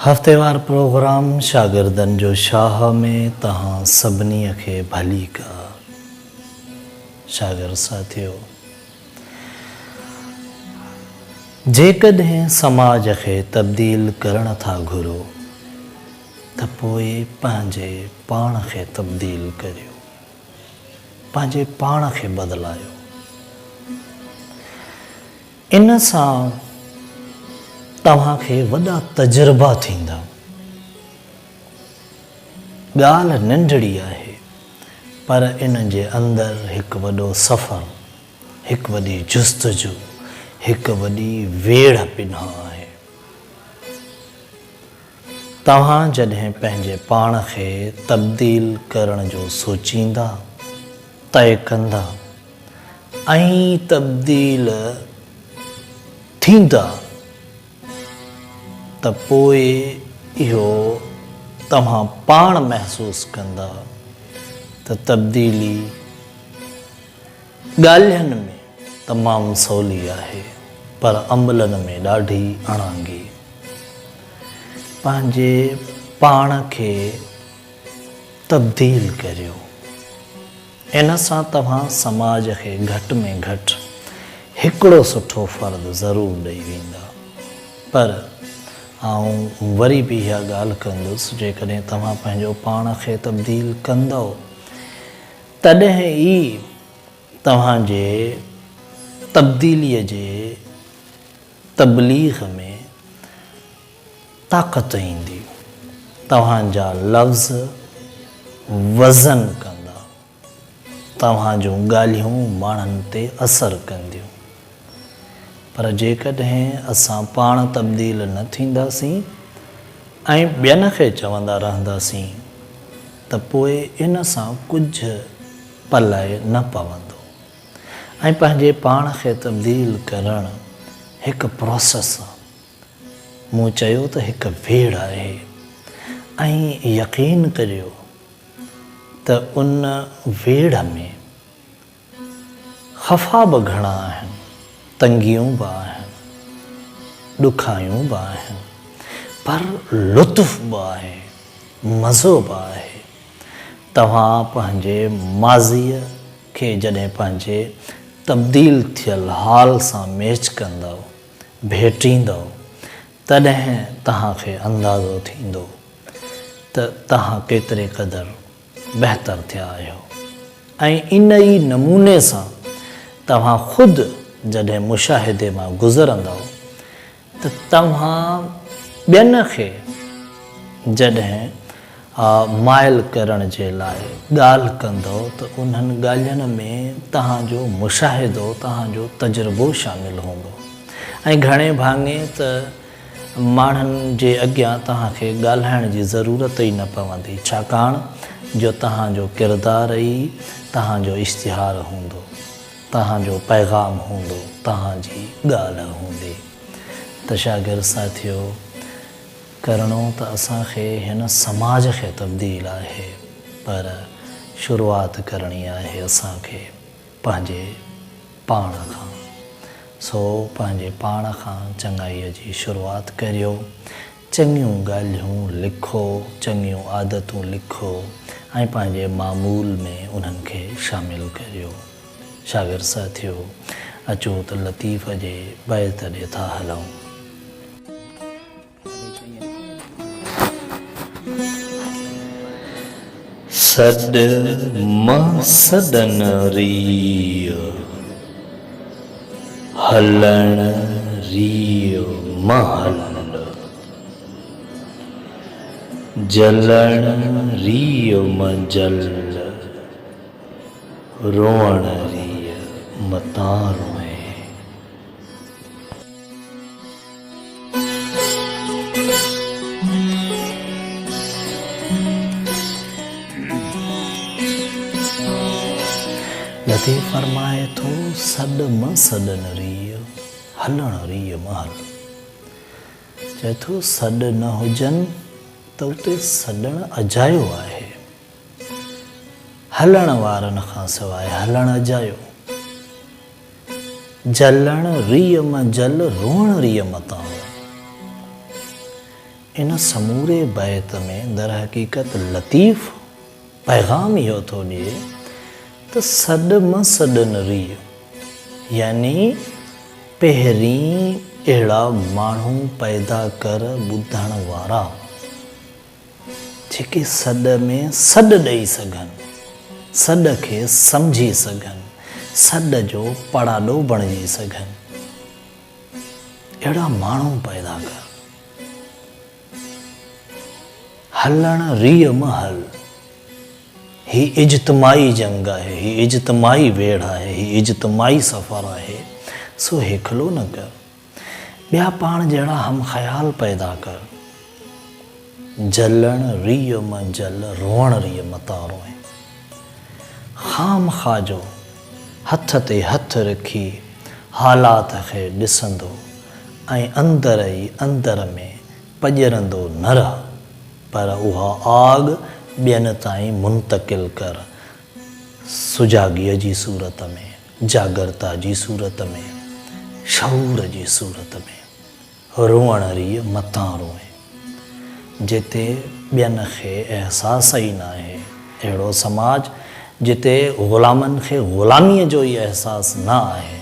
هفتيوار پروگرام شاگردن جو شاهه ۾ توهان سڀني کي ڀليڪار. شاگرد ساٿيو! جيڪڏهن سماج کي تبديل ڪرڻ ٿا گهرو ته پوء پنهنجي پاڻ کي تبديل ڪريو. پنهنجي پاڻ کي بدلايو. ان سان توهان کي وڏا تجربا ٿيندا. ڳالهه ننڍڙي آهي پر ان جي اندر هڪ وڏو سفر، هڪ وڏي جستجو، هڪ وڏي ويڙهه پنهان آهي. توهان جڏهن پنهنجي پاڻ کي تبديل ڪرڻ جو سوچيندا، طئي ڪندا. ۽ تبديل ٿيندا ته پوء اهو توهان پاڻ محسوس ڪندا ته تبديلي ڳالهين ۾ تمام سولي آهي پر عملن ۾ ڏاڍي اڻانگي. پنهنجي پاڻ کي تبديل ڪريو. ان سان توهان سماج کي گهٽ ۾ گهٽ هڪڙو سٺو فرد ضرور ڏئي ويندا. پر آئون وري به اها ڳالهه ڪندس جيڪڏهن توهان پنهنجو پاڻ کي تبديل ڪندؤ تڏهن ئي توهان جي تبديلي جي تبليغ ۾ طاقت ايندي، توهان جا لفظ وزن ڪندا، توهان جون ڳالهيون ماڻهن تي اثر ڪنديون. پر جيڪڏهن اسان پاڻ تبديل نه ٿينداسين ۽ ٻين کي چوندا رهنداسين ته پوء ان سان ڪجهه پلئه نه پوندو ۽ پنهنجي پاڻ کي تبديل ڪرڻ هڪ پراسيس آ. مون چيو ته هڪ ويڙهه آهي ۽ يقين ڪريو ته ان ويڙهه ۾ خفا به گهڻا آهن، تنگيون به آهن، ڏکايون به آهن، پر لطف به آهي، مزو به آهي. توهان پنهنجي ماضيء کي جڏهن پنهنجي تبديل ٿيل حال سان ميچ ڪندؤ، ڀيٽيندؤ تڏهن توهان کي اندازو ٿيندو ته توهان ڪيتري قدر بهتر ٿيا آهيو ۽ ان ئي نموني سان توهان خود جڏهن مشاهدي مان گذرندؤ ته توهان ٻين کي جڏهن ها مائل ڪرڻ جي لاء ڳالهه ڪندؤ ته انهن ڳالهين ۾ توهان جو مشاهدو، توهان جو تجربو شامل هوندو ۽ گهڻي ڀاڱي ته ماڻهن جي اڳيان توهان کي ڳالهائڻ جي ضرورت ئي نه پوندي ڇاڪاڻ جو توهان جو ڪردار ئي توهان جو اشتهار هوندو، توهان جو پيغام هوندو، توهان جي ڳالهه هوندي ته شاگرد ساٿيو! ڪرڻو ته اسان کي هن سماج کي تبديل آهي پر شروعات ڪرڻي آهي اسان کي پنهنجي پاڻ کان سو پنهنجي پاڻ کان چڱائي جي شروعات ڪريو چڱيون ڳالهيون لکو چڱيون عادتون لکو ۽ پنهنجي معمول ۾ انهن کي شامل ڪريو شاگرد ساٿيو اچو ته لطيف جي بيت ڏي ٿا هلون. سڏ مان سڏن ريء، هلڻ ريء مهل، جلڻ ريء منجل، روئڻ ريء متان روئين. لطيف فرمائي ٿو، سڏ مه سڏن ريء، هلڻ ريء مه هل. چئي ٿو، سڏ نه هجن ته اتي سڏڻ اجايو آهي. هلڻ وارن کان سواء هلڻ اجايو. جلڻ ريء م جل روئڻ ريء م تان هو. ان سموري بيت ۾ درحقيقت لطيف پيغام اهو ٿو ڏئي ته سڏ م سڏن ريء يعني پهرين اهڙا ماڻهو پيدا ڪر ٻڌڻ وارا. جيڪي سڏ ۾ سڏ ڏئي سگهن، سڏ کي سمجهي سگهن، سڏ جو پڙاڏو بڻجي سگهن، اهڙا ماڻهو پيدا ڪر. هلڻ ريء م هل. هي اجتماعي جنگ آهي، هي اجتماعي ويڙهه آهي، هي اجتماعي سفر آهي، سو هيکلو نه ڪر. ٻيا پاڻ جهڙا هم خيال پيدا ڪر. جلڻ ريء م جل روئڻ ريء م تان روئين. خامخا جو هٿ تي هٿ رکي حالات کي ڏسندو ۽ اندر ئي اندر ۾ پڄرندو نه رهه پر اها آڳ ٻين تائين منتقل ڪر سجاڳيء جي صورت ۾. جاڳرتا جي صورت ۾، شعور جي صورت ۾، روئڻ ريء متان روئين. جتي ٻين کي احساس ئي ناهي، اهڙو سماج، جتي غلامن کي غلاميء جو ئي احساس نه آهي،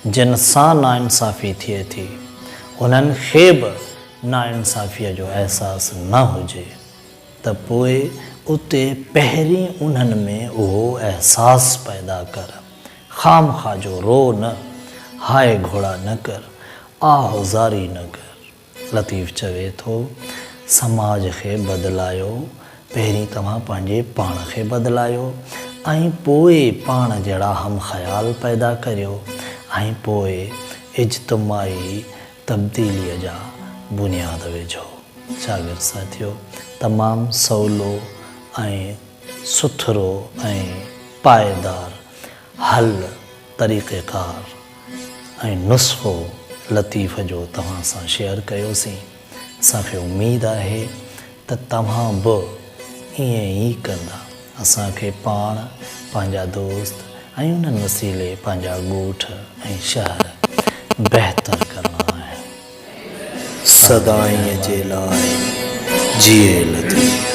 جن سان ناانصافي ٿئي ٿي، انهن کي به ناانصافيء جو احساس نه هجي. ته پوء اتي پهرين انهن ۾ اهو احساس پيدا ڪر. خامخواه جو رو نه، هاء گهوڙا نه ڪر، آه و زاري نه ڪر. لطيف چوي ٿو، سماج کي بدلايو، پهرين توهان پنهنجي پاڻ کي بدلايو ۽ پوء پاڻ جهڙا هم خيال پيدا ڪريو ۽ پوء اجتماعي تبديليء جا بنياد وجهو. شاگرد ساٿيو! تمام سولو ۽ سٿرو ۽ پائيدار حل، طريقيڪار ۽ نسخو لطيف جو توهان سان شيئر ڪيوسين. اسان کي اميد آهي ته توهان به ائين ئي ڪندا. اسان کي پاڻ، پنهنجا دوست ۽ انهن وسيلي پنهنجا ڳوٺ ۽ شهر بهتر ڪرڻا آهن. سدائين جي لاء جيئي لطيف.